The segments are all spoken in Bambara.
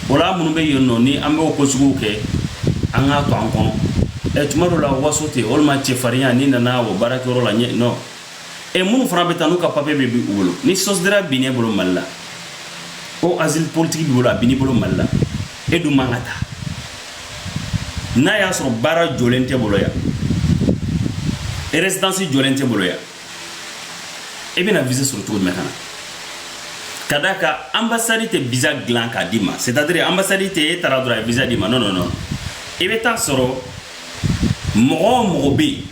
O la minnu bɛ yen nɔ ni an bɛ ko sugu kɛ an k'a to an kɔnɔ ɛ tuma dɔ la waso tɛ walima cɛfarinya n'i nana o baara kɛ la ɲɛ nɔ ɛ minnu fana bɛ taa n'u ka papiye bɛ bin u bolo ni sussidiaria binn'e bolo mali la o asile politique b'i bolo a b'i bolo mali la e dun man ka taa n'a y'a sɔrɔ baara jɔlen t'i bolo yan résidence jɔlen t'i bolo yan e bɛna visa sɔrɔ cogo jumɛn ka na ka d'a kan anbasadi tɛ visa dilan k'a d'i ma c'est à dire anbasadi tɛ e taara dɔrɔn a ye visa d'i ma non non non i bɛ t'a sɔrɔ mɔgɔ o mɔgɔ bɛ yen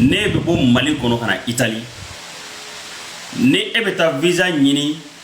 n'e bɛ bɔ mali kɔnɔ ka na itali ni e bɛ taa visa ɲini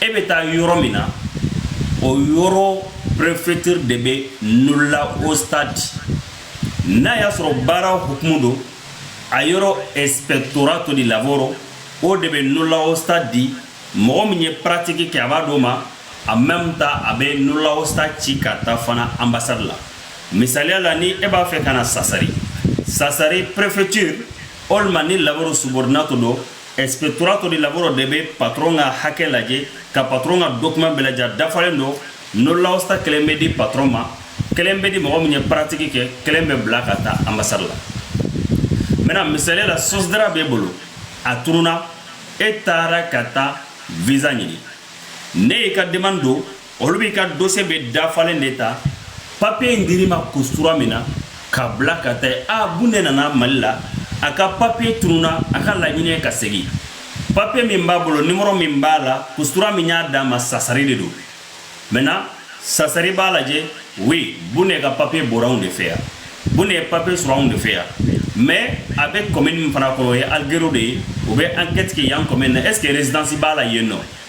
e bɛ taa yɔrɔ min na o yɔrɔ préfecture de bɛ nulla osta di n'a y'a sɔrɔ baara hukumu don a yɔrɔ ispettorato di lavoro o de bɛ nulla osta di mɔgɔ min ye pratique kɛ a b'a d'o ma en même temps a bɛ nulla osta ci ka taa fana ambassade la misaliya la ni e b'a fɛ ka na sassari sassari préfecture walima ni lavoro subordinato don ispettorato di lavoro de bɛ patron ka hakɛ lajɛ ka patron ka document bɛɛ lajɛ a dafalen don nulla osta kelen bɛ di patron ma kelen bɛ di mɔgɔ min ye pratique kɛ kelen bɛ bila ka taa ambasadi la maintenant misaliya la sussidiaria b'e bolo a tununa e taara ka taa visa ɲini n'e y'i ka demande don olu b'i ka dossier bɛɛ dafalen de ta papiye in dir'i ma questura min na k'a bila ka taa yen a bun de nana mali la a ka papiye tununa a ka laɲini ye ka segin papiye min b'a bolo nimɔrɔ min b'a la questura min y'a d'a ma sassari de don maintenant sassari b'a lajɛ oui bun de ka papiye bɔra anw de fɛ yan bun de ye papiye sɔrɔ anw de fɛ yan mais a bɛ commune min fana kɔnɔ o ye alghero de ye u bɛ enquête kɛ yan commune na est ce que résidence b'a la yen nɔ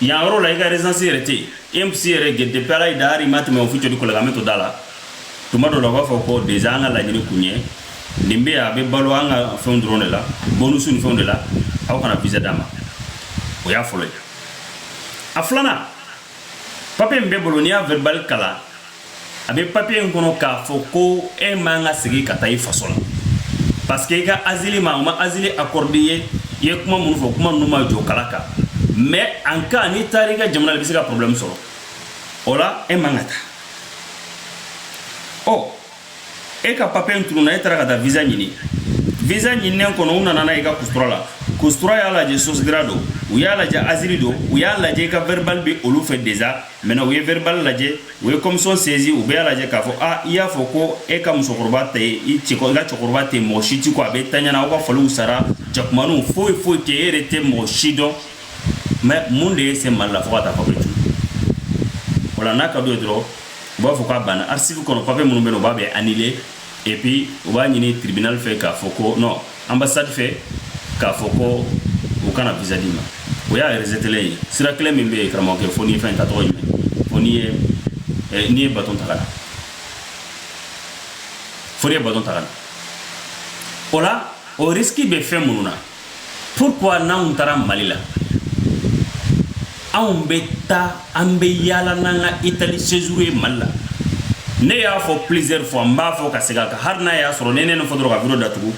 yan yɔrɔ la i ka résidence yɛrɛ tɛ yen e ma ISEE yɛrɛ kɛ depuis ala y'i da hali i ma tɛmɛ ufficio di collocamento da la tuma dɔ la u b'a fɔ ko déjà an ka laɲini kun ye nin bɛ a bɛ balo an ka fɛnw dɔrɔn de la bonusu ni fɛnw de la aw kana visa d'a ma o y'a fɔlɔ ye a filanan papiye min b'i bolo n'i y'a verbal kalan a bɛ papiye in kɔnɔ k'a fɔ ko e man ka segin ka taa i faso la parce que i ka azili ma u ma azili accordé i ye i ye kuma minnu fɔ kuma ninnu ma jɔ kala kan mais nka n'i taara i ka jamana la i bɛ se ka problème sɔrɔ o la e man ka taa ɔ e ka papiye in tununa e taara ka taa visa ɲini visa ɲininen kɔnɔ u nana n'a ye i ka questura la questura y'a lajɛ sussidiaria don u y'a lajɛ azili don u y'a lajɛ i ka verbal bɛ olu fɛ déjà maintenant u ye verbal lajɛ u ye commission saisi u bɛɛ y'a lajɛ k'a fɔ a i y'a fɔ ko e ka musokɔrɔba tɛ i cɛ i ka cɛkɔrɔba tɛ mɔgɔ si ti ko a bɛ taɲana aw ka faliw sara jakumaniw foyi foyi tɛ e yɛrɛ tɛ mɔgɔ si dɔn mais mun de y'i se mali la fo ka taa papiye tu o la n'a ka d'u ye dɔrɔn u b'a fɔ k'a banna archive kɔnɔ papiye minnu bɛ na u b'a bɛɛ annuler et puis u b'a ɲini tribunal fɛ k'a fɔ ko non ambassade fɛ k'a fɔ ko u kana visa d'i ma o y'a rejetélen ye sira kelen min bɛ yen karamɔgɔkɛ fo n'i ye fɛn ta tɔgɔ jumɛn fo n'i ye eh, n'i ye baton ta ka na fo n'i ye baton ta ka na o la o risiki bɛ fɛn minnu na pourquoi n'anw taara mali la anw bɛ taa an bɛ yaala n'an ka italie séjour ye mali la ne y'a fɔ plusieurs fois n b'a fɔ ka segin a kan hali n'a y'a sɔrɔ ne ne fɔ dɔrɔn ka bolo daugu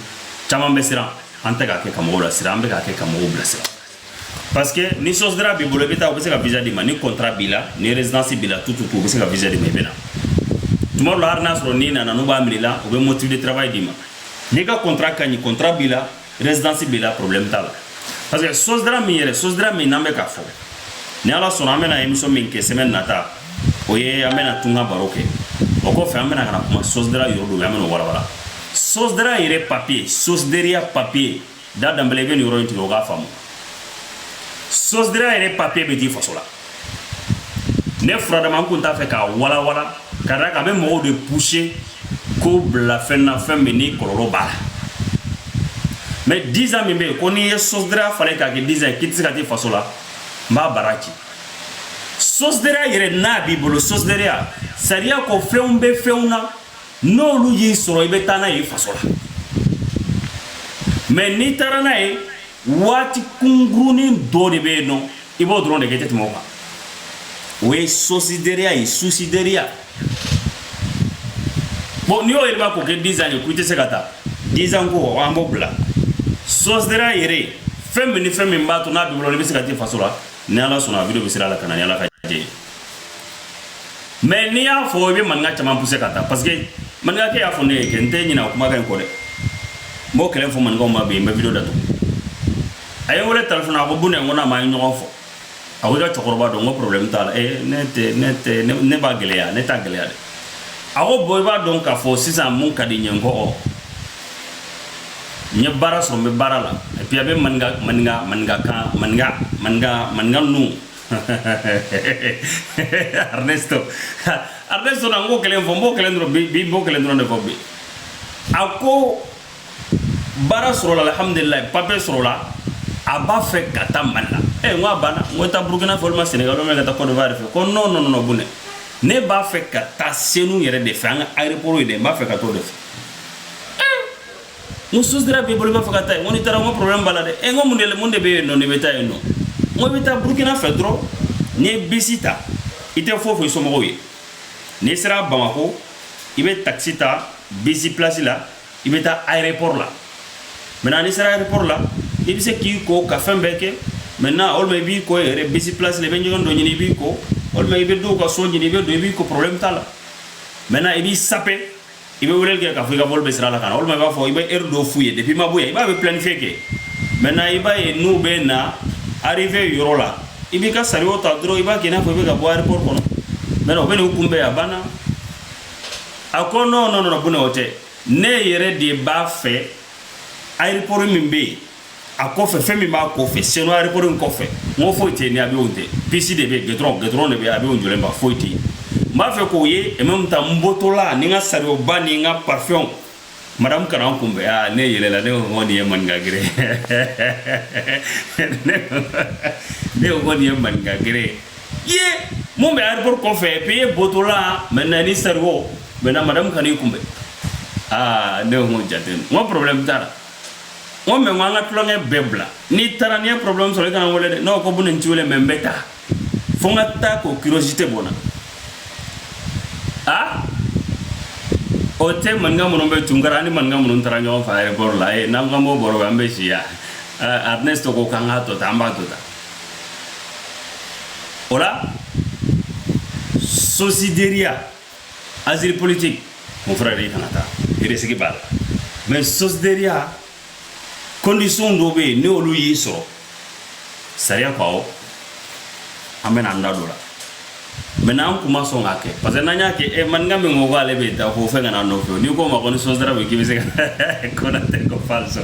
caman bɛ siran an tɛ k'a kɛ ka mɔgɔw lasiran an bɛ k'a kɛ ka mɔgɔw bila sira parce que ni sussidiaria b'i bolo i bɛ taa u bɛ se ka visa d'i ma ni kɔntara b'i la ni résidence b'i la tout tout u bɛ se ka visa d'i ma i bɛ na tuma la hali n'a sɔrɔ n'i nana n'u b'a minɛ la u bɛ motif de travail d'i ma n'i ka kɔntara ka ɲi kɔntara b'i la résidence b'i la problème t'a la parce que sussidiaria min yɛrɛ sussidiaria min n'an bɛ k'a fɔ ni ala sɔnna an bɛna émission min kɛ semaine nata o ye an bɛna tunga baro kɛ o kɔfɛ an bɛna ka na kuma sussidiaria yɔrɔ dɔ bɛ an bɛna o walawala sussidiaria yɛrɛ papier sussidiaria papier da danbɛlɛ i bɛ nin yɔrɔ in tigɛ o k'a faamu sussidiaria yɛrɛ papier bɛ di faso la ne furadama n kun t'a fɛ k'a walawala ka d'a kan a bɛ mɔgɔw de pousser k'u bila fɛn na fɛn min ni kɔlɔlɔ b'a la mais dix ans min bɛ yen ko n'i ye sussidiaria falen k'a kɛ dix ans ye k'i tɛ se ka t'i faso la n b'a bara ci sussidiaria yɛrɛ n'a b'i bolo sussidiaria sariya ko fɛnw bɛ fɛnw na n'olu y'i sɔrɔ i bɛ taa n'a ye i faso la mais n'i taara n'a ye waati kunkurunin dɔ de bɛ yen nɔ i b'o dɔrɔn de kɛ i tɛ tɛmɛ o kan o ye sussidiaria ye sussidiaria bon n'i y'o yɛlɛma k'o kɛ dix ans ye ko i tɛ se ka taa dix ans ko an b'o bila sussidiaria yɛrɛ fɛn min ni fɛn min b'a to n'a b'i bolo i bɛ se ka t'i faso la ni ala sɔnna video bɛ sira la ka na ni ala ka diɲɛ ye mais n'i y'a fɔ i bɛ maninka caman pousser ka taa parce que maninkakɛ y'a fɔ ne ye kɛ n tɛ ɲinɛ o kumakan in kɔ dɛ n b'o kelen fɔ maninkaw ma bi n bɛ video datugu a ye n wele telefɔni a ko bone n ko naamu an ye ɲɔgɔn fɔ a ko i ka cɛkɔrɔba don n ko problème t'a la ee ne tɛ ne tɛ ne b'a gɛlɛya ne t'a gɛlɛya dɛ a ko bon i b'a dɔn k'a fɔ sisan mun ka di n ye n ko ɔ n ye baara sɔrɔ n bɛ baara la et puis a bɛ maninka maninka maninka kan maninka maninka maninka ninnu arnesto arnesto na n k'o kelen fɔ n b'o kelen dɔrɔn bi n b'o kelen dɔrɔn de fɔ bi a ko baara sɔrɔla alhamdulilayi papiye sɔrɔla a b'a fɛ ka taa mali la ɛ n ko a banna n ko taa burukina fɛ walima senegal walima ka taa cote d'ivoire fɛ ko non non non buna ne b'a fɛ ka taa senu yɛrɛ de fɛ an ka aéroport ye dɛ n b'a fɛ ka t'o de fɛ n ko sosideriya b'i bolo i b'a fɛ ka taa yen n ko n'i taara n ko problème b'a la dɛ e n ko mun de mun de bɛ yen nɔ n'i bɛ taa yen nɔ n ko i bɛ taa burukina fɛ dɔrɔn n'i ye bisi ta i tɛ foyi fɔ i somɔgɔw ye n'i sera bamako i bɛ takisi ta bisi place la i bɛ taa aéroport la maintenant n'i sera aéroport la i bɛ se k'i ko ka fɛn bɛɛ kɛ maintenant walima i b'i ko yɛrɛ bisi place la i bɛ ɲɛgɛn dɔ ɲini i b'i ko walima i bɛ dɔw ka so ɲini i bɛ don i b'i ko problème t'a la maintenant i b'i sape i bɛ weleli kɛ k'a fɔ i ka vol bɛ sira la ka na walima i b'a fɔ i bɛ heure dɔ f'u ye depuis i ma bɔ yen i b'a bɛɛ planifiye kɛ maintenant i b'a ye n'u bɛ na arrivée yɔrɔ la i b'i ka chariot ta dɔrɔn i b'a kɛ i n'a fɔ i bɛ ka bɔ aéroport kɔnɔ maintenant u bɛ n'i kunbɛn a banna a ko non non non buna o tɛ ne yɛrɛ de b'a fɛ aéroport min bɛ yen a kɔfɛ fɛn min b'a kɔfɛ senu aéroport in kɔfɛ n ko foyi tɛ ni avion tɛ piste de bɛ goudron goudron de bɛ avion jɔlen ba foyi tɛ n b'a fɛ k'o ye et même temps n bɔtɔla ni n ka chariotba ni n ka parfumw madame ka na n kunbɛn aa ne yɛlɛla ne ko ko nin ye maninka gere ne ko ko nin ye maninka gere ye mun bɛ aéroport kɔfɛ pe ye bɔtɔla maintenant ni chariot maintenant madame ka na i kunbɛn aa ne ko n ko jate n ko problème t'a la n ko mais n ko an ka tulonkɛ bɛɛ bila n'i taara n'i ye problème sɔrɔ i kana n wele dɛ n'o ko buna n t'i wele mais n bɛ taa fo n ka taa k'o curiosité bɔ n na a o tɛ maninka minnu bɛ tunga la ani maninka minnu taara ɲɔgɔn fɛ aéroport la ye n'an ko an b'o baro an bɛ si yan Ernest ko k'an k'a to tan an b'a to tan o la sosideriya asile politique mon frère i kana taa risque b'a la mais sosideria condition dɔ bɛ yen n'olu y'i sɔrɔ sariya ko awɔ an bɛna an da don a la mais n'an kun ma sɔn k'a kɛ parce que n'an y'a kɛ ɛ maninka min ko k'ale bɛ taa ko fɛn kana nɔfɛ n'i k'o ma ko ni sosideria bɛ k'i bɛ se ka konatɛ ko falso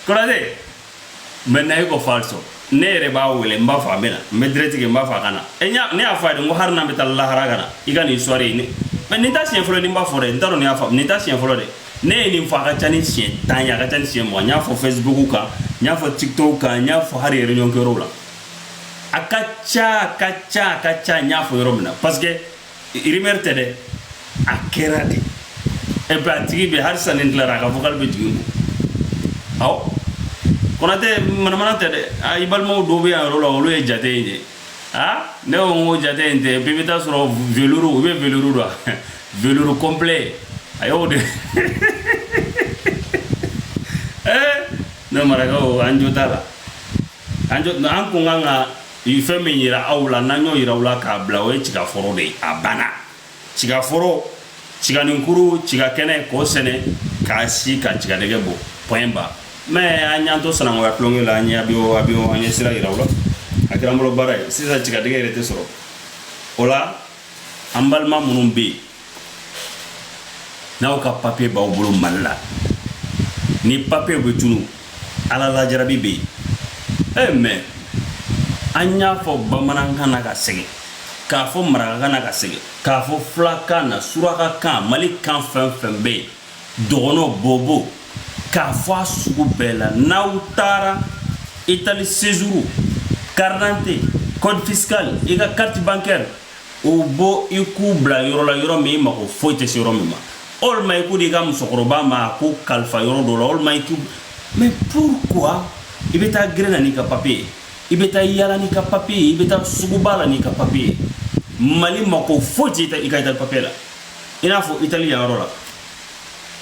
konatɛ maintenant e ko falso ne yɛrɛ b'a wele n b'a fɔ a bɛ na n bɛ direct kɛ n b'a fɔ a ka na e ɲa ne y'a fɔ a ye ko hali n'an bɛ taa lahara ka na i ka nin sɔre ye ne mais nin t'a siɲɛ fɔlɔ ne b'a fɔ dɛ n t'a dɔn ne y'a fɔ nin t'a siɲɛ fɔlɔ dɛ ne ye nin fɔ a ka ca ni siɲɛ tan ye a ka ca ni siɲɛ mugan n y'a fɔ facebook kan n y'a fɔ tiktok kan n y'a fɔ hali réunion kɛyɔrɔw la a ka ca a ka ca a ka ca n y'a fɔ yɔrɔ min na parce que rumeur tɛ dɛ a kɛra de e bɛ a tigi bɛ halisa ni tilara a ka vocal bɛ jigin ko ɔ konatɛ manamana tɛ dɛ a i balimaw dɔw bɛ yan yɔrɔ la olu ye jate in de aa ne ko n ko jate in tɛ bɛɛ bɛ taa sɔrɔ veluru u bɛ veluru don veluru complet a y'o de ne marakaw an jo t'a la an jo an kun kan ka i fɛn min yira aw la n'an y'o yira aw la k'a bila o ye tigaforo de ye a banna tigaforo tiganinkuru tigakɛnɛ k'o sɛnɛ k'a si ka tigadɛgɛ bɔ point barre mais an y'an to sanangoya tulonkɛ la an ye abiyo abiyo an ye sira yira aw la a kɛra n bolo baara ye sisan tigadɛgɛ yɛrɛ tɛ sɔrɔ o la an balima minnu bɛ yen n'aw ka papiye b'aw bolo mali la ni papiye bɛ tunu ala la jarabi bɛ yen e eh, mais an y'a fɔ bamanankan na ka sɛgɛn k'a fɔ marakakan na ka sɛgɛn k'a fɔ fulakan na surakakan mali kan fɛn fɛn bɛ yen dɔgɔnɔ bobo k'a fɔ a sugu bɛɛ la n'aw taara itali séjour karidante code fiscal i ka carte bancaire u bɔ i k'u bila yɔrɔ la yɔrɔ min i mako foyi tɛ se yɔrɔ min ma walima i k'u di i ka musokɔrɔba ma a k'u kalifa yɔrɔ dɔ la walima i k'u mais pourquoi i bɛ taa gɛrɛn na n'i ka papiye i bɛ taa yala n'i ka papiye i bɛ taa suguba la n'i ka papiye mali mako foyi tɛ i ka i ka papiye la i n'a fɔ itali yan yɔrɔ la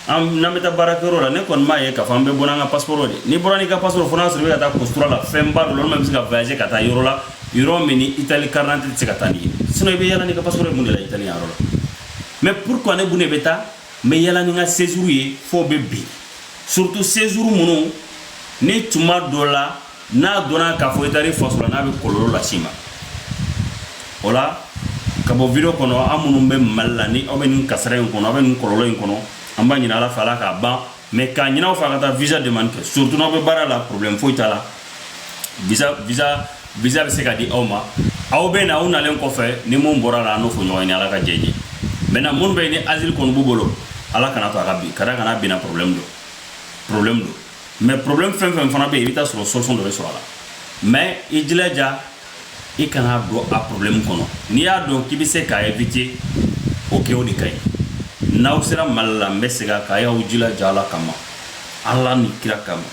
an n'an bɛ taa baarakɛyɔrɔ la ne kɔni m'a ye k'a fɔ an bɛ bɔ n'an ka pasiporo de n'i bɔra n'i ka pasiporo fo n'a sɔrɔ i bɛ ka taa kosura la fɛnba dɔ la olu bɛ se ka voyager ka taa yɔrɔ la yɔrɔ min ni itali karidante tɛ se ka taa n'i ye sinon i bɛ yala n'i ka pasiporo ye mun de la itali yɔrɔ la mais pourquoi ne dun de bɛ taa n bɛ yala ni n ka séjour ye f'o bɛ bin surtout séjour minnu ni tuma dɔ la n'a donna k'a fɔ i taara i faso la n'a bɛ kɔlɔlɔ las'i ma o la ka bɔ video kɔnɔ aw minnu bɛ mali la ni aw bɛ nin kasara in kɔnɔ aw bɛ nin kɔlɔlɔ in kɔnɔ an b'a ɲini ala fɛ ala k'a ban mais k'a ɲin'aw fɛ aw ka taa visa demande kɛ surtout n'aw bɛ baara la problème foyi t'a la visa visa visa bɛ se ka di aw ma aw bɛ na aw nalen kɔfɛ ni mun bɔra la an n'o fɔ ɲɔgɔn ye ni ala ka jɛn ye maintenant minnu bɛ yen ni asile kɔni b'u bolo ala kana to a ka bin ka d'a kan n'a binna problème don problème don mais problème fɛn fɛn fana bɛ yen i bɛ taa sɔrɔ solution dɔ bɛ sɔrɔ a la mais i jilaja i kana don a problème kɔnɔ n'i y'a dɔn k'i bɛ se k'a éviter o kɛ o de ka ɲi n'aw sera mali la n bɛ segin a kan a y'aw jilaja ala kama ala ni kira kama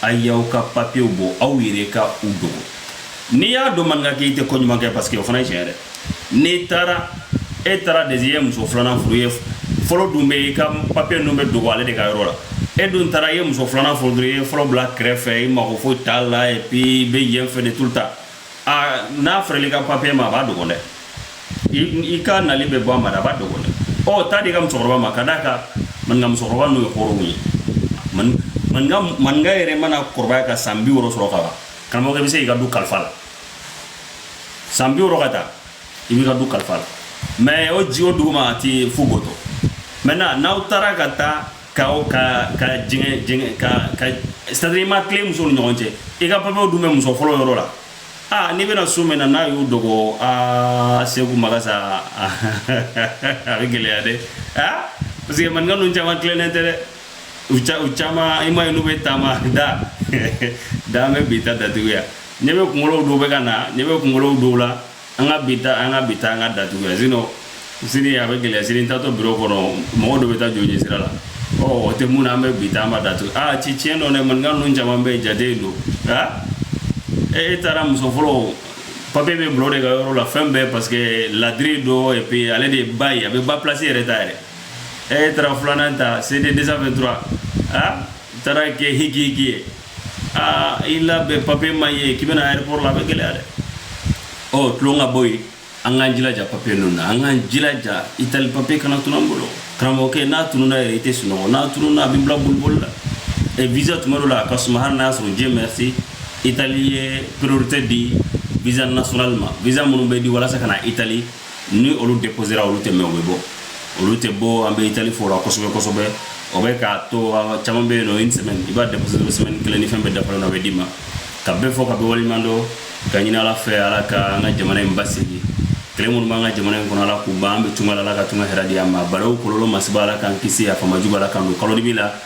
a y'aw ka papiyew bɔ aw yɛrɛ ka u dogo n'i y'a dɔn maninkakɛ i tɛ ko ɲuman kɛ parce que o fana ye tiɲɛ yɛrɛ n'i taara e taara de ye muso filanan furu e fɔlɔ dun bɛ i ka papiye ninnu bɛ dogo ale de ka yɔrɔ la e dun taara i ye muso filanan furu dɔrɔn i ye fɔlɔ bila kɛrɛfɛ i mako foyi t'a la et puis i bɛ yen fɛ de tout le temps a n'a fɔra i ka papiye ma a b'a dogo dɛ i ka nali bɛ bɔ a ma a b'a dogo dɛ ɔ taa a di i ka musokɔrɔba ma ka d'a kan maninka musokɔrɔba n'o ye hɔrɔnw ye maninka maninka yɛrɛ mana kɔrɔbaya ka san bi wɔɔrɔ sɔrɔ ka ban karamɔgɔkɛ i bɛ se k'i ka du kalifa a la san bi wɔɔrɔ ka taa i b'i ka du kalifa a la mais o ji o duguma a ti fo goto maintenant n'aw taara ka taa ka ka ka jɛngɛ jɛngɛ ka ka c'est-à-dire i ma tilen musow ni ɲɔgɔn cɛ i ka papiyew dun bɛ muso fɔlɔ yɔrɔ la aa n'i bɛna su min na n'a y'u dogo aa seku magasa a bɛ gɛlɛya dɛ aa parce que maninka ninnu caman tilennen tɛ dɛ u caman i m'a ye n'u bɛ taama da da an bɛ bi ta datugu yan ne bɛ kunkolo dɔw bɛ ka na ne bɛ kunkolo dɔw la an ka bi ta an ka bi ta an k'a datugu yan sinon sini a bɛ gɛlɛya sini taatɔ biro kɔnɔ mɔgɔ dɔ bɛ taa joli sira la ɔ o tɛ mun na an bɛ bi ta an m'a datugu aa ci tiɲɛ don dɛ maninka ninnu caman bɛ jate don nka e taara muso fɔlɔ papiye bɛ bila o de ka yɔrɔ la fɛn bɛɛ parce que ladiri don et puis ale de ye ba ye a bɛ ba place yɛrɛ ta yɛrɛ e taara filanan ta cd 223 aa n taara kɛ hiki hiki ye aa i labɛn papiye ma ye k'i bɛna aéroport la a bɛ gɛlɛya dɛ ɔ tulon ka bɔ yen an k'an jilaja papiye ninnu na an k'an jilaja itali papiye kana tunu an bolo karamɔgɔkɛ n'a tununa yɛrɛ i tɛ sunɔgɔ n'a tununa a b'i bila boliboli la ɛ visa tuma dɔ la a ka suma hali n'a y'a sɔrɔ dieu merci itali ye priorité di visa national ma visa minnu bɛ di walasa ka na itali ni olu deposera olu tɛ mɛɛn o bɛ bɔ olu tɛ bɔ an bɛ itali fo o la kosɛbɛ kosɛbɛ o bɛ k'a to caman bɛ yen nɔ i semaine i b'a déposer semaine kelen ni fɛn bɛɛ dafara a bɛ d'i ma ka bɛɛ fo ka bɛɛ waleɲuman dɔn ka ɲini ala fɛ ala ka an ka jamana in basigi kɛlɛ minnu b'an ka jamana in kɔnɔ ala k'u ban an bɛ tunga la ala ka tunga hɛrɛ di an ma balawu kɔlɔlɔ masiba ala k'an kisi a faama jugu ala k'an don kalo dibi la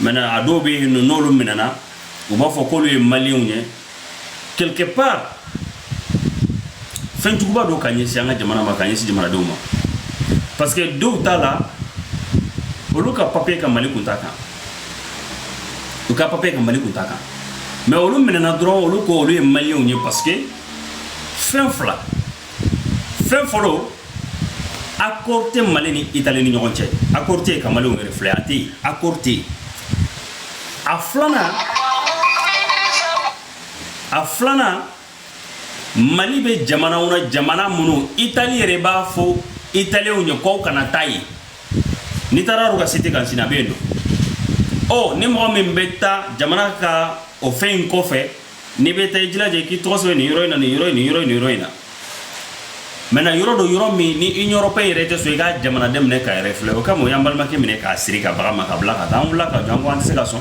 maintenant a dɔw bɛ yen n'olu minɛna u b'a fɔ k'olu ye malienw ye quelque part fɛn juguba don ka ɲɛsin an ka jamana ma ka ɲɛsin jamanadenw ma parce que dɔw t'a la olu ka papiye ka mali kunta kan u ka papiye ka mali kunta kan mais olu minɛna dɔrɔn olu ko olu ye malienw ye parce que fɛn fila fɛn fɔlɔ accord tɛ mali ni itali ni ɲɔgɔn cɛ accord tɛ yen ka malienw refouler a tɛ yen accord tɛ yen a filanan a filanan mali bɛ jamanaw na jamana minnu itali yɛrɛ b'a fɔ italienw ye k'aw kana taa yen n'i taara olu ka site kan sini a bɛ yen nɔ ɔ ni mɔgɔ min bɛ taa jamana ka o fɛn in kɔfɛ n'i bɛ taa i jilaja i k'i tɔgɔ sɛbɛn nin yɔrɔ in na nin yɔrɔ in nin yɔrɔ in nin yɔrɔ in na maintenant yɔrɔ don yɔrɔ min ni Europe yɛrɛ tɛ sɔn i ka jamanaden minɛ k'a refouler o kama u y'an balimakɛ minɛ k'a siri ka bagan ma ka bila ka taa an wulila ka jɔ an ko an tɛ se ka sɔn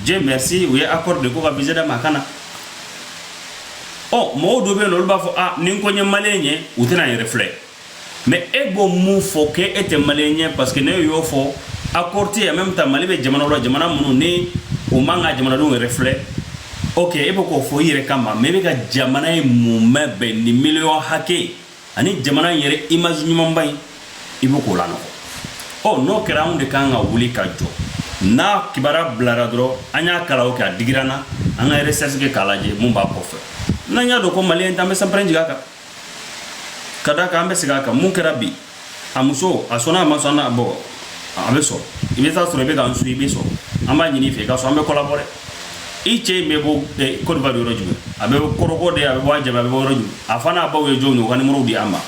Dieu merci u ye accord de ko ka visa d'a ma a ka na ɔ mɔgɔw dɔ bɛ yen nɔ olu b'a fɔ a ni n ko n ye maliyɛn ye u tɛna n refouler mais e b'o mun fɔ ko e tɛ maliyɛn ye parce que ne y'o fɔ accord tɛ yen même temps mali bɛ jamana la jamana minnu ni o man ka jamanadenw refouler ok e bɛ k'o fɔ i yɛrɛ kama mais e bɛ ka jamana ye mun mɛn bɛn ni miliyɔn hakɛ ani jamana in yɛrɛ image ɲumanba in i bɛ k'o lanɔgɔ ɔ n'o kɛra anw de kan ka wuli ka jɔ n'a kibaruya bilara dɔrɔn an y'a kalan o kɛ a digira an na an ka recherche kɛ k'a lajɛ mun b'a kɔfɛ n'an y'a dɔn ko maliyɛn t'an bɛ sanpɛrɛn jigin a kan ka da kan an bɛ segin a kan mun kɛra bi a muso a sɔnna a ma sɔn a bɔ a bɛ sɔn i bɛ taa sɔrɔ i bɛ k'an su i bɛ sɔn an b'a ɲini i fɛ i ka sɔn an bɛ k'a labɔ dɛ i cɛ in bɛ bɔ Côte d'Ivoire yɔrɔ jumɛn a bɛ kɔrɔkɔ de a bɛ bɔ a jaba a bɛ bɔ yɔrɔ jumɛn a fa n'a baw ye jɔn ye u ka nimoro di an ma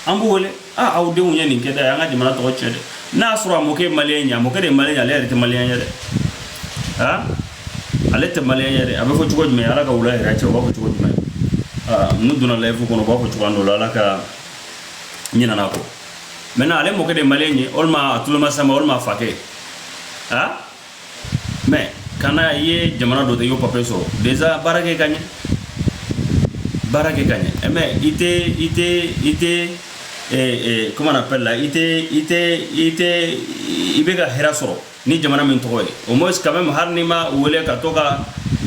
an b'u wele a aw denw ye nin kɛ dɛ an ka jamana tɔgɔ cɛn dɛ n'a sɔrɔ a mɔkɛ ye maliyɛn ye a mɔkɛ de ye maliyɛn ye ale yɛrɛ tɛ maliyɛn ye dɛ aa ale tɛ maliyɛn ye a bɛ fɔ cogo jumɛn ala ka wula hɛrɛ caya b'a fɔ cogo jumɛn n'u donna layifu kɔnɔ b'a fɔ cogoya dɔ la n ɲinana a kɔ maintenant ale mɔkɛ de maliyɛn ye walima a tulomasama walima a fakɛ a mais kana i ye jamana dɔ de y'o papier sɔrɔ déjà baara kɛ ka ɲɛ baara kɛ ka ɲɛ mais i tɛ i tɛ i tɛ kuma na pɛrɛn la i tɛ i tɛ i tɛ i bɛ ka hɛrɛ sɔrɔ ni jamana min tɔgɔ ye au moins ka bɛ hali ni ma wele ka to ka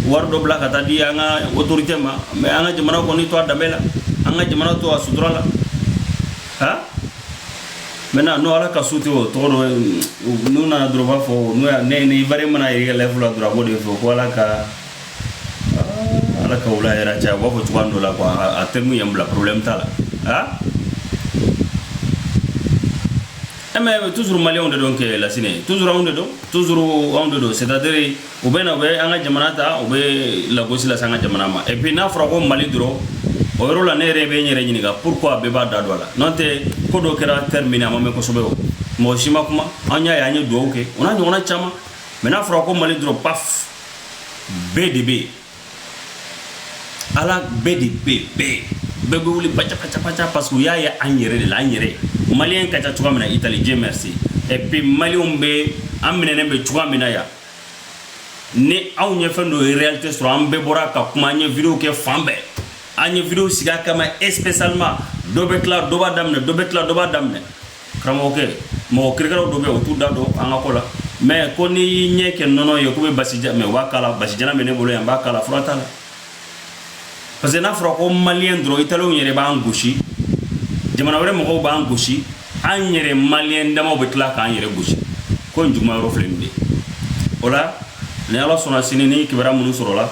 wari dɔ bila ka taa di an ka autorité ma mais an ka jamana kɔni to a danbe la an ka jamana to a sutura la ha maintenant n'o ala ka su tɛ o tɔgɔ dɔ n'u nana dɔrɔn b'a fɔ n'o y'a ne ni bari mana yɛrɛ layifu la dɔrɔn a b'o de fɔ ko ala ka ala ka wula hɛrɛ caya u b'a fɔ cogoya dɔ la quoi a tɛ mun yɛn bila problème t'a la ha E mais toujours maliyɛnw de don kɛ lat toujours anw de don toujours anw de don c'est-à-dire u bɛ na u bɛ an ka jamana ta u bɛ lagosi lase an ka jamana ma et puis n'a fɔra ko mali dɔrɔn o yɔrɔ la ne yɛrɛ bɛ n yɛrɛ ɲininka pourquoi bɛɛ b'a da don a la n'an tɛ ko dɔ kɛra Termini a ma mɛn kosɛbɛ o mɔgɔ si ma kuma an y'a ye an ye dugawu kɛ u ɲɔgɔn caman mais n'a fɔra ko mali dɔrɔn pan bɛɛ de bɛ yen ala bɛɛ de bɛ bɛɛ bɛɛ bɛ wuli pa pa pa ca parce que u y'a ye an yɛrɛ de la an yɛrɛ maliyɛn ka ca cogoya min na Italie Dieu merci et puis maliyɛnw bɛ an minɛnen bɛ cogoya min na yan ni anw ye fɛn dɔ réalité sɔrɔ an bɛɛ bɔra ka kuma an ye vidéo kɛ fan bɛɛ an ye vidéo sigi kama spécialement dɔ bɛ tila dɔ b'a daminɛ dɔ bɛ tila dɔ b'a daminɛ karamɔgɔkɛ mɔgɔ kirikɛlaw dɔ bɛ o t'u da don an ka ko la mɛ ko n'i y'i yɛrɛ kɛ nɔnɔ ye ko bɛ basi mɛ u b'a k'a la basi jalan bɛ ne bolo yan n b'a k'a la fura t'a la parce que n'a fɔra ko maliyɛn dɔrɔn italiw yɛrɛ b'an gosi jamana wɛrɛ mɔgɔw b'an gosi an yɛrɛ maliyɛn damaw bɛ tila k'an yɛrɛ gosi ko nin juguman yɔrɔ filɛ nin de o la ni ala sɔnna sini ni kibaruya minnu sɔrɔla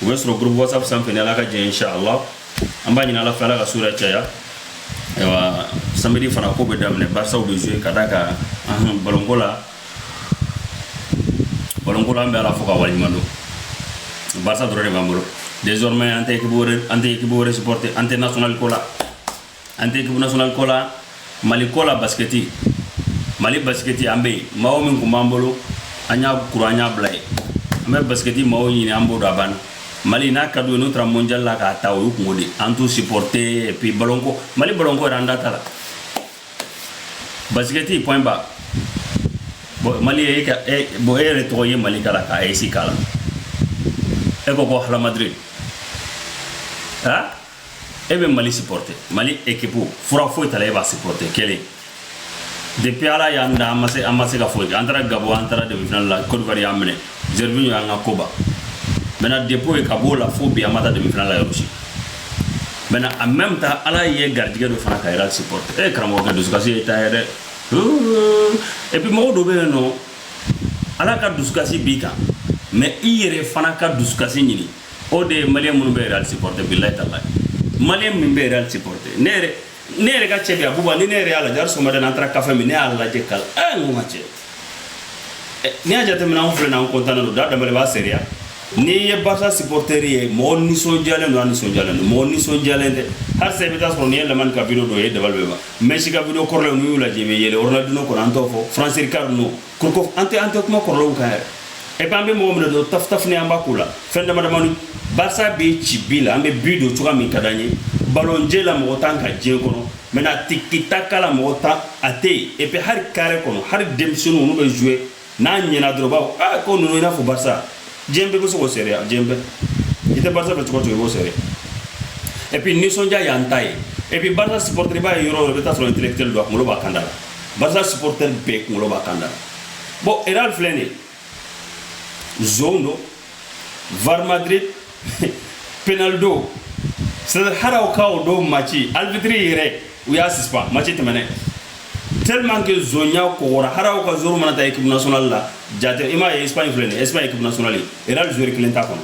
u bɛ sɔrɔ groupe whatsapp sanfɛ ni ala ka jɛ inshallah an b'a ɲini ala fɛ ala ka sura caya ayiwa samedi fana ko bɛ daminɛ barisaw bɛ jouer ka d'a kan balonko la balonko la an bɛ ala fo ka waleɲuman dɔn barisa dɔrɔn de b'an bolo désormais an tɛ équipe wɛrɛ an tɛ équipe wɛrɛ supporter an tɛ national ko la an tɛ ekipu nasionali ko la mali ko la basikɛti mali basikɛti an bɛ yen maaw min tun b'an bolo an y'a kura an y'a bila yen an bɛ basikɛti maaw ɲini an b'o dɔn a banna mali n'a ka d'u ye n'u taara mondial la k'a ta o y'u kunko de an t'u supporte et puis balonko mali balonko yɛrɛ an da t'a la basikɛti point ba bon mali ye ka e bon e yɛrɛ tɔgɔ ye mali kala ka esi kala e ko ko hala madrid ha e bɛ mali supporte mali ekipu fura foyi t'a la e b'a supporte kelen depuis ala y'an da an ma se an ma se ka foyi kɛ an taara Gabon an taara demifinali la kodiwari y'an minɛ Gervinho y'an ka ko ban maintenant depuis ka b'o la fo bi an ma taa demifinali la yɔrɔ si maintenant en même temps ala ye garijigɛ dɔ fana ka Real supporte e karamɔgɔkɛ dusukasi y'i ta ye dɛ et puis mɔgɔ dɔ bɛ yen nɔ ala ka dusukasi b'i kan mais i yɛrɛ fana ka dusukasi ɲini o de ye maliyɛn minnu bɛ Real sipɔrɔte bilayi tala maliyɛn min bɛ Real sipɔrɔte ne yɛrɛ ne yɛrɛ ka cɛ bɛ yan buba ni ne yɛrɛ y'a lajɛ hali sɔgɔmada la an taara kafe min ne y'a lajɛ ka ɛ n ko ka cɛ n'i y'a jateminɛ anw filɛ nin an kɔntannen don da daminɛ b'a seereya n'i ye barisa sipɔrɔtɛri ye mɔgɔ nisɔndiyalen don a nisɔndiyalen don mɔgɔ nisɔndiyalen tɛ hali sisan i bɛ taa sɔrɔ n'i ye Lamine ka video dɔ ye dabali bɛ ban mɛsi ka video kɔrɔlen n'u y'u lajɛ i bɛ yɛlɛ ronaldinho kɔnɔ an t'o fɔ Frank Rijkaard ninnu ko ko an tɛ an tɛ kuma kɔrɔlenw kan yɛrɛ epi an bɛ mɔgɔ minɛ dɔrɔn tafutafuni an b'a ko la fɛn dama damani barisa bɛ ci bi la an bɛ bi don cogoya min ka d'an ye balonje la mɔgɔ t'an kan diɲɛ kɔnɔ maintenant tikitaka la mɔgɔ t'an a tɛ yen epi hali kare kɔnɔ hali denmisɛnninw n'u bɛ zuwe n'a ɲɛna dɔrɔn b'a fɔ aa ko ninnu i n'a fɔ barisa diɲɛ bɛɛ bɛ se k'o seereya diɲɛ bɛɛ i tɛ barisa fɛ cogo cogo i b'o seereya et puis nisɔndiya y'an ta ye et puis barisa supporter i b'a ye yɔrɔ yɔrɔ i bɛ taa sɔrɔ intellectuel don a kunkolo b'a kan da la barisa supporter bɛɛ kunkolo b'a kan da la bon Real filɛ nin ye zonw don var madrid penaldo c'est à dire hali aw ka o don match alibitiri yɛrɛ u y'a sispan match tɛmɛnɛ tellement que zonya kɔgɔra hali aw ka joueur mana taa équipe nationale la jate i m'a ye Espagne filɛ nin ye Espagne équipe nationale Real joueur kelen t'a kɔnɔ